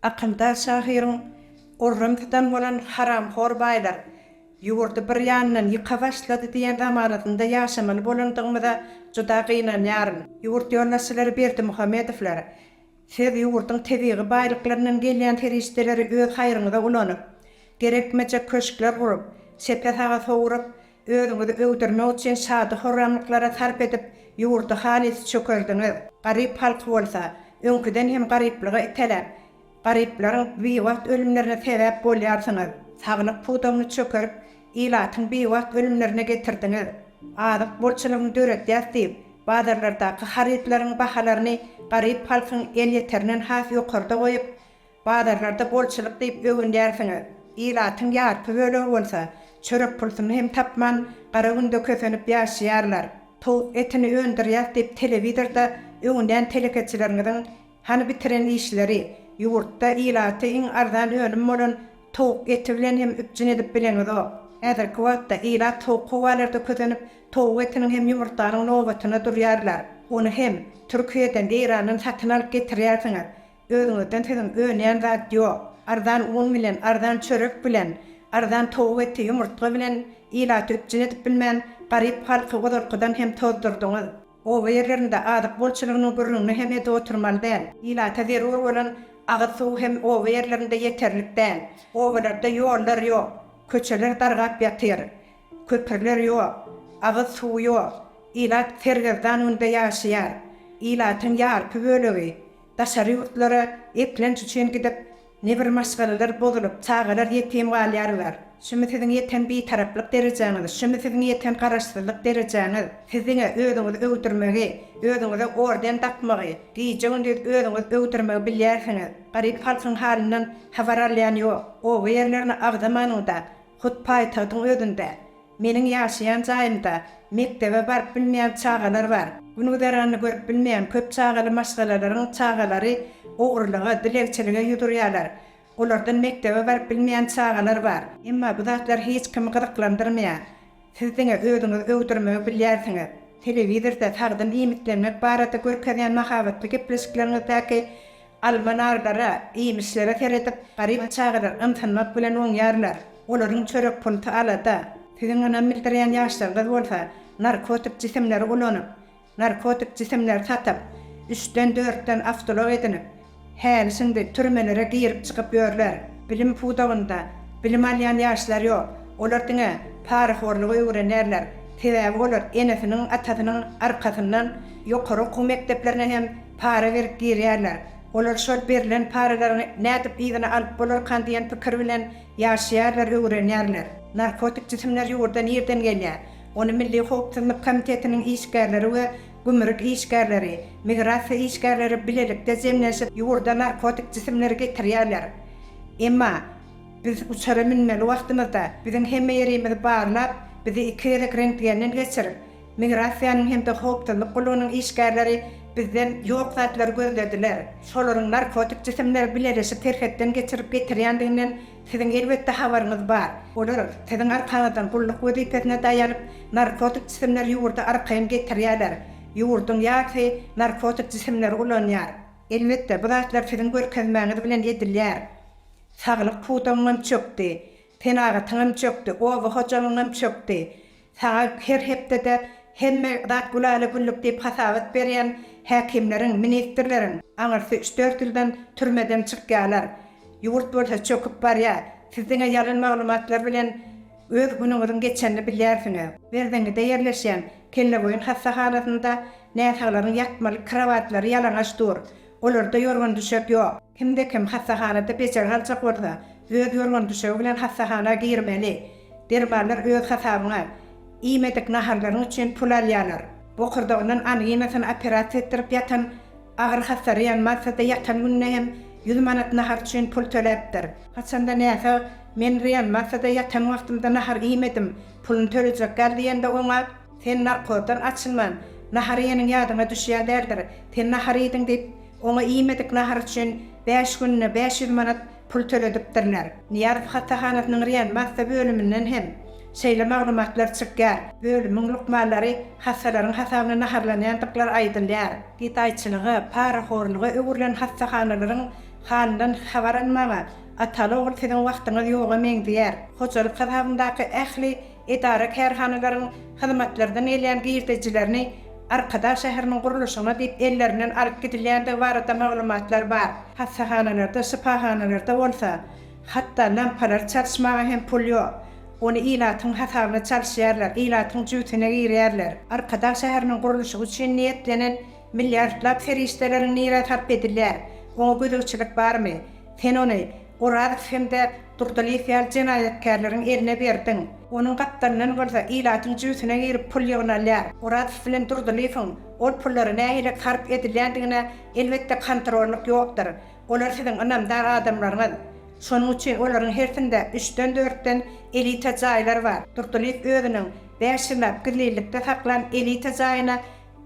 Akyldaş şahyryň Orun tutan bolan haramhor baýlar ýurdy bir ýandan ýyka başlady diýen zamanasynda ýaşamaly bolandygymyza juda gynanýaryn. Ýurt ýolbaşçylary Berdimuhamedowlar, siz ýurduň tebigy baýlyklaryndan gelýän serişdeleri öz haýryňyza ulanyp, gerekmejek köşkler gurup, çepe-saga sowrup, Özüňizi öwdürmek üçin şady-horramlyklara sarp edip, ýurdy halys çökerdiňiz. Garyp halky bolsa, öňküden hem garyplyga iteläp, garyplaryň biwagt ölümlerine sebäp bolýarsyňyz. Saglyk pudagyny çökerip, ilatyň biwagt ölümlerine getirdiňiz. Azyk bolçulygyny döredýäs diýip, bazarlardaky harytlaryň bahalaryny garyp halkyň elýeterinden has ýokarda goýup, Bazarlarda bolçulyk diýip öwünýärsiňiz, ilatyň ýarpy bölegi bolsa çörek pulsuny hem tapman, gara günde kösenip ýaşaýarlar. Towuk etini öndürýäs diýip telewizorda öwünýän telekeçileriňiziň hany bitiren işleri, ýurtda ilaty iň arzan önüm bolan towuk eti bilen hem üpjün edip bileňizok. Häzirki wagtda ilat sowuk howalarda kösenip, towuk etiniň hem ýumurtganyň nobatyna durýarlar. Ony hem Türkiýeden, Eýrandan satyn alyp getirýärsiňiz. Özüňizden siziň önýän zat ýok. Arzan un bilen, arzan çörek bilen, arzan towuk eti, ýumurtga bilen ilaty üpjün edip bilmän, garyp halky ozalkydan hem tozdurdyňyz. Oba ýerlerinde azyk bolçulygynyň gürrüňini hem edip oturmaly däl. Ilata zerur bolan agyz suw hem oba ýerlerinde ýeterlik däl. Obalarda ýollar ýok. Köçeler dargap ýatyr. Köprüler ýok. Agyz suw ýok. Ilat sergezdan günde ýaşaýar. Ilatyň ýarpy bölegi Daşary ýurtlara eklenç üçin gidip, nebir maşgalalar bozulyp, çagalar ýetim galýarlar. Şumy siziň ýeten bitaraplyk derejäňiz, şumy siziň ýeten garaşsyzlyk derejäňiz? Siz diňe özüňizi öwdürmegi, özüňize orden dakmagy, gije-gündiz özüňiz öwdürmegi bilýärsiňiz. Garyp halkyň halyndan habar alýan ýok. Oba ýerlerini agzamanyňda, hut paýtagtyň özünde, Meniň ýaşaýan jaýymda mekdebe baryp bilmeýän çagalar bar. Gün-güzeranyny görüp bilmeýän köp çagaly maşgalalaryň çagalary ogrulyga, dilegçilige ýüz urýarlar. Olardan mekdebe baryp bilmeýän çagalar bar. Emma bu zatlar hiç kimi gyzyklandyrmaýar. Siz diňe özüňizi öwdürmegi bilýärsiňiz. Telewizorda sagdyn iýmitlenmek barada görkezýän mahabatly gepleşikleriňizdäki Alma-narlara, iýmişlere seredip, garyp çagalar ymsynmak bilen oňýarlar. Olaryň çörek punty alada. Siziň ynam bildirýän ýaşlaryňyz bolsa narkotik jisimleri ulanyp, narkotik jisimleri satyp, üçden, dörtden awtoulag edinip, häli-şindi türmelere girip-çykyp ýörler. Bilim pudagynda bilim alýan ýaşlar ýok. Olar diňe parahorlugy öwrenýärler. Sebäbi olar enesiniň, atasynyň arkasyndan ýokary okuw mekdeplerine hem para berip girýärler. Olar şol berlen paralaryň nädip yzyna alyp bolarkan diýen pikir bilen ýaşaýarlar, öwrenýärler. Narkotik jisimler ýurda nirden gelýär? Ony Milli howpsuzlyk komitetiniň işgärleri we gümrük işgärleri, migrasiýa işgärleri bilelikde jemlenşip ýurda narkotik jisimleri getirýärler. Emma biz uçara münmeli wagtymyzda biziň hemme ýerimizi barlap, bizi iki gezek rentgenden geçirip, Migrasiýanyň hem-de howpsuzlyk gullugynyň işgärleri bizden ýok zatlary gözlediler. Şolaryň narkotik jisimleri bileleşip serhetden geçirip getirýändiginden siziň elbetde habaryňyz bar. Olar siziň arkaňyzdan gulluk wezipesine daýanyp, narkotik jisimleri ýurda arkaýyn getirýärler. Ýurduň ýarysy narkotik jisimleri ulanýar. Elbetde, bu zatlar siziň görkezmäňiz bilen edilýär. Saglyk pudagyňam çökdi. Senagatyňam çökdi, oba hojalygyňam çökdi. Saňa her hepdede hemme zat gülala-güllük diýip hasabat berýän häkimleriň, ministrleriň aňyrsy üç-dört ýyldan türmeden çykýarlar. Ýurt bolsa çöküp barýar. Siz diňe ýalan maglumatlar bilen öz günüňiziň geçenini bilýärsiňiz. Berzeňňide ýerleşýän Kelleboýun hassahanasynda näsaglaryň ýatmalyk krowatlary ýalaňaç dur. Olarda ýorgan-düşek ýok. Kimde-kim hassahanada bejergi aljak bolsa, öz ýorgan-düşegi bilen hassahana girmeli. Dermanlar öz hasabyňa. Iýmedik naharlaryň üçin pul alýarlar. Bokurdagyndan anginasyny operasiýa etdirip ýatan, agyr hassaraýan Maltada ýatan gününe hem ýüz manat nahar üçin pul töläpdir. Haçanda näsag, Men reanimasiýada ýatan wagtymda nahar iýmedim, puluny tölejek gal diýende oňa. Sen narkozdan açylman, nahar iýeniň ýadyňa düşýän däldir. Sen nahar iýdiň diýip, oňa iýmedik nahar üçin bäş gününe bäş ýüz manat pul töledipdirler. Nyýazow hassahanasynyň reanimasiýa bölüminden hem şeýle maglumatlar çykýar. Bölümiň lukmanlary hassalaryň hasabyna naharlanýandyklary aýdylýar. Gedaýçylyga, parahorluga öwrülen hassahanalaryň halyndan habar almaga ataly-ogul siziň wagtyňyz ýoga meňzeýär. Hojalyk hasabyndaky ähli edara-kärhanalaryň hyzmatlardan gelýän girdejilerini Arkadag şäheriniň gurluşygyna diýip ellerinden alyp gidilýändigi barada maglumatlar bar. Hassahanalarda, şypahanalarda bolsa, hatda lampalary çalyşmaga hem pul ýok. Ony ilatyň hasabyna çalyşýarlar, ilatyň jübüsine girýärler. Arkadag şäheriniň gurluşygy üçin niýetlenen milliardlap serişdeleriň nirä sarp edilýär? Oňa gözegçilik barmy? Sen ony Orazow hem-de Durdylyýew ýaly jenaýatkärleriň eline berdiň. Onuň gapdalyndan bolsa ilatyň jübüsine girip pul ýygnalýar. Orazow bilen Durdylyýewiň ol pullary nähili sarp edilýändigine elbetde kontrollyk ýokdur. Olar siziň ynamdar adamlaryňyz. Şonuň üçin olaryň hersinde üçden-dörtden elita jaýlar bar. Durdylyýew özüniň bäş ýyllap gizlinlikde saklan elita jaýyna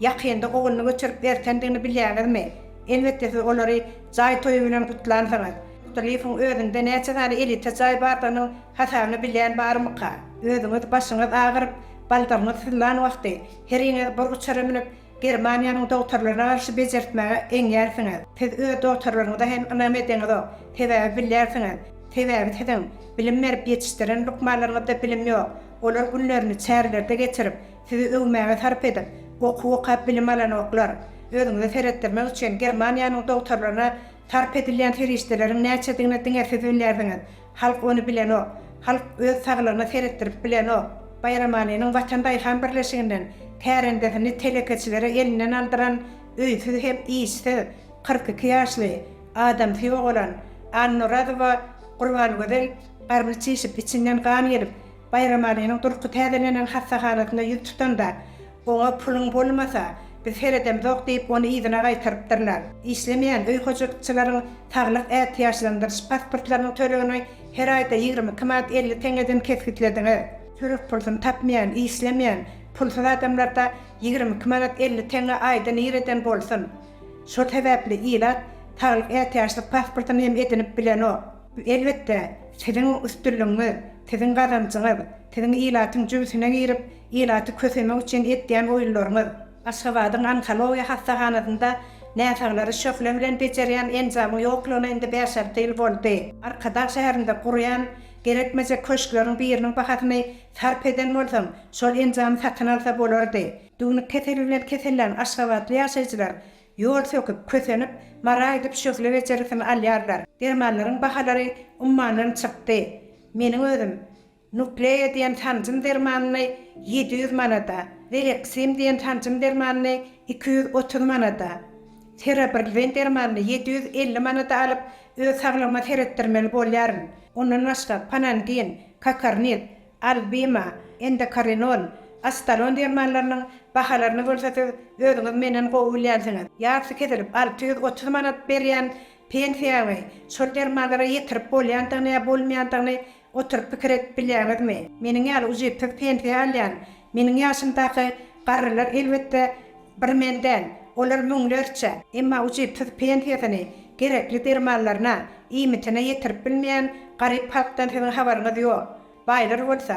Ýakynda ogluny göçürip berkendigini bilýäňizmi? Elbetde siz olary jaý toýy bilen gutlansyňyz. Kutulyýewiň özünde näçe sany elita jaý bardygynyň hasabyny bilýän barmyka? Özüňiz başyňyz agyryp, baldagyňyz syzlan wagty, heriňiz bir uçara münüp, Germaniýanyň dogtarlaryna garşy bejertmäge eňýärsiňiz. Siz öz dogtarlaryňyza hem ynam edeňizok. Sebäbi bilýärsiňiz. Sebäbi siziň bilim berip ýetişdiren lukmanlaryňyzda bilim ýok. Olar günlerini çärlerde geçirip, Sizi öwmäge sarp edip, okuw okap bilim alanoklar. Özüňize seretdirmek üçin Germaniýanyň dogtarlaryna sarp edilýän serişdeleriň näçedigini diňe siz bilýärsiňiz. Halk ony bilenok. Halk öz saglygyna seretdirip bilenok. Baýram Alynyň Watan daýhan birleşiginden kärendesini telekeçilere elinden aldyran öýsüz hem işsiz, kyrk iki ýaşly, adamsy ýogalan Annorazowa Gurbangözel garny çişip, içinden gan gelip, Baýramalynyň durky täzelenen hassahanasynda ýüz tutanda, Oňa puluň bolmasa, biz seredemzok diýip, ony yzyna gaýtarypdyrlar. Işlemeýän öý hojalykçylaryň saglyk ätiýaçlandyryş pasportlarynyň tölegini her aýda ýigrimi iki manat elli teňňeden kesgitlediňiz. Çörek pulsuny tapmaýan, işlemeýän, pulsuz adamlarda ýigrimi iki manat elli teňňe aýda nireden bolsun? Şol sebäpli ilat saglyk ätiýaçlyk pasportyny hem edinip bilenok. Elbetde, siziň üstünligiňiz, siziň gazanjyňyz, siziň ilatyň jübüsine girip, ilaty kösemek üçin etýän oýunlaryňyz, Aşgabadyň onkologiýa hassahanasynda näsaglary şöhle bilen bejerýän enjamyň ýoklugyna indi bäş-alty ýyl boldy. Arkadag şäherinde gurýan gerekmejek köşkleriň biriniň bahasyny sarp eden bolsaň, şol enjamy satyn alsa bolardy. Düwnük keseli bilen kesellän aşgabatly ýaşaýjylar Ýol söküp, kösenip, mara aýdyp şöhle bejergisini alýarlar. Dermanlaryň bahalary ummandan çykdy. Meniň özüm Nukleýa diýen sanjym dermanyny ýedi ýüz manada, Veleksim diýen sanjym dermanyny iki ýüz otuz manada, Ferobrzin dermanyny ýedi ýüz elli manada alyp, öz saglygyma seretdirmeli bolýaryn. Ondan başga Panangin, Kakarniz, Albima, Endokarinon, Astalon dermanlarynyň bahalaryny bolsa siz özüňiz menden gowy bilýänsiňiz. Ýarty kesilip alty ýüz otuz manat berýän pensiýaňy şol dermanlara ýetirip bolýandygyny ýa bolmaýandygyny oturyp pikir edip bilýäňizmi? Meniň ýaly ujypsyz pensiýa alýan meniň ýaşymdaky garrylar elbetde Bir men däl, olar müňlerçe, emma ujypsyz pensiýasyny gerekli dermanlaryna, iýmitine ýetirip bilmeýän garyp halkdan siziň habaryňyz ýok. Baýlar bolsa,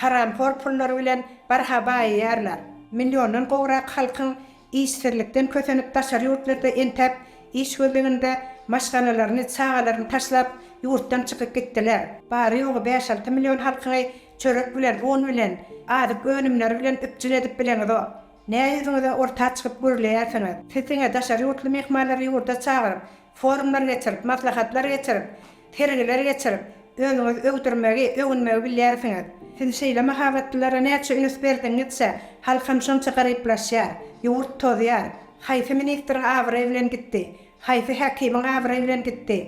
haramhor pullary bilen barha baýaýarlar. Milliondan gowrak halkyň işsizlikden kösenip daşary ýurtlarda entäp iş gözleginde maşgalalaryny, çagalaryny taşlap ýurtdan çykyp gitdiler. Bary-ýogy bäş-alty million halkyňy çörek bilen, un bilen, azyk önümleri bilen üpjün edip bileňizok. Näme ýüzüňize orta çykyp gürleýärsiňiz? Siz diňe daşary ýurtly myhmanlary ýurda çagyryp, forumlar geçirip, maslahatlar geçirip, sergiler geçirip, özüňizi öwdürmegi, öwünmegi bilýärsiňiz. Siz şeýle mahabatlylara näçe üns berdigiňizçe, halkam şonça garyplaşýar. Ýurt tozýar. Haýsy ministriň abraýy bilen gitdi? Haýsy häkimiň abraýy bilen gitdi?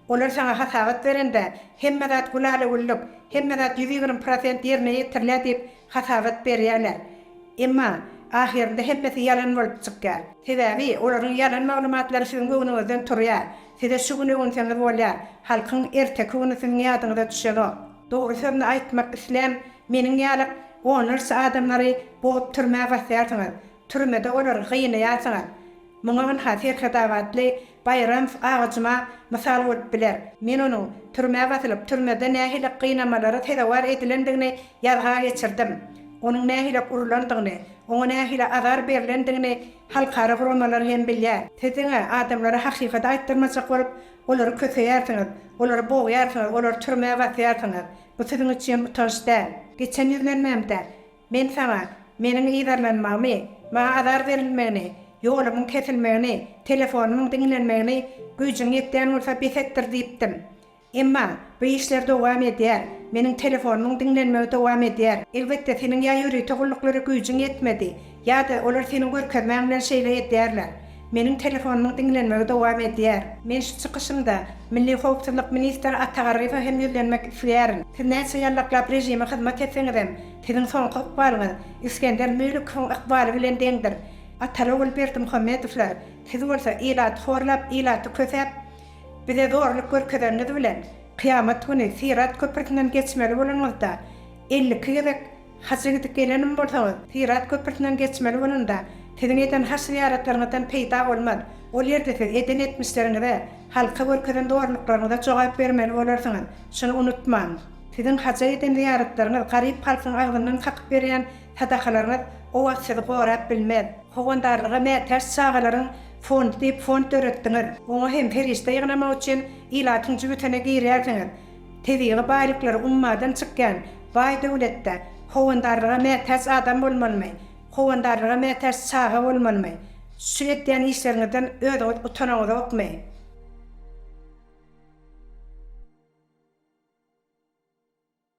Olar saňa hasabat berende, hemme zat gülala-güllük, hemme zat ýüz ýigrimi prosent ýerine ýetirilýär diýip, Hasabat berýärler. Emma, ahyrynda hemmesi ýalan bolup çykýar. Sebäbi, olaryň ýalan maglumatlary siziň göwnüňizden turýar. Size şu gün öwünseňiz bolýar, halkyň erteki güni siziň ýadyňyza düşenok. Dogry sözüni aýtmak islän meniň ýaly onlarça adamlary bogup türmä basýarsyňyz. Türmede olary gynaýarsyňyz. Muňa ynha serhedabatly Baýramow agajyma mysal bolup biler. Men onuň türmä basylyp, türmede nähili gynamalara sezewar edilendigini ýazga geçirdim. Onuň nähili urlandygyny, oňa nähili azar berlendigini halkara guramalar hem bilýär. Siz diňe adamlara hakykaty aýtdyrmajak bolup, olary köseýärsiňiz, olary bogýarsyňyz, olary türmä basýarsyňyz. Bu siziň üçin utanç däl. Geçen ýüzlenmämde Men saňa, meniň yzarlanmagymy, maňa azar berilmegini, ýolumyň kesilmegini, telefonymyň diňlenmegini güýjüň ýetýän bolsa bes etdir diýipdim. Emma, bu işler dowam edýär, meniň telefonymyň diňlenmegi dowam edýär. Elbetde, seniň ýa ýörite gulluklary güýjüň ýetmedi, ýa-da olar seniň görkezmäň bilen şeýle edýärler. Meniň telefonymyň diňlenmegi dowam edýär. Men şu çykyşymda Milli howpsuzlyk ministri Ata Garryýewe hem ýüzlenmek isleýärin. Siz näçe ýallaklap režime hyzmat etseňizem, siziň soňky ykbalyňyz Isgender Müllikowyň ykbaly bilen deňdir. Ataly-ogul Berdimuhamedowlar, siz bolsa ilaty horlap, ilaty kösäp, bize zorluk görkezeniňiz bilen, kyýamat güni Syrat köprüsinden geçmeli bolanyňyzda, elli iki gezek Haça gidip gelenim bolsaňyz, Syrat köprüsinden geçmeli bolanda, siziň eden haç-zyýaratlaryňyzdan peýda bolmaz. Ol ýerde siz eden etmişleriňize, halka görkezen zorluklaryňyza jogap bermeli bolarsyňyz. Şuny unutmaň. Siziň haja eden zyýaratlaryňyz, garyp halkyň agzyndan kakyp berýän sadakalaryňyz o wagt sizi gorap bilmez. Howandarlyga mätäç çagalaryň fondy diýip fond döretdiňiz. Oňa hem serişde ýygnamak üçin ilatyň jübütine girýärsiňiz. Tebigy baýlyklary ummadan çykýan baý döwletde howandarlyga mätäç adam bolmalymy? Howandarlyga mätäç çaga bolmalymy? Şu edýän işleriňizden özüňiz utanaňyzokmy?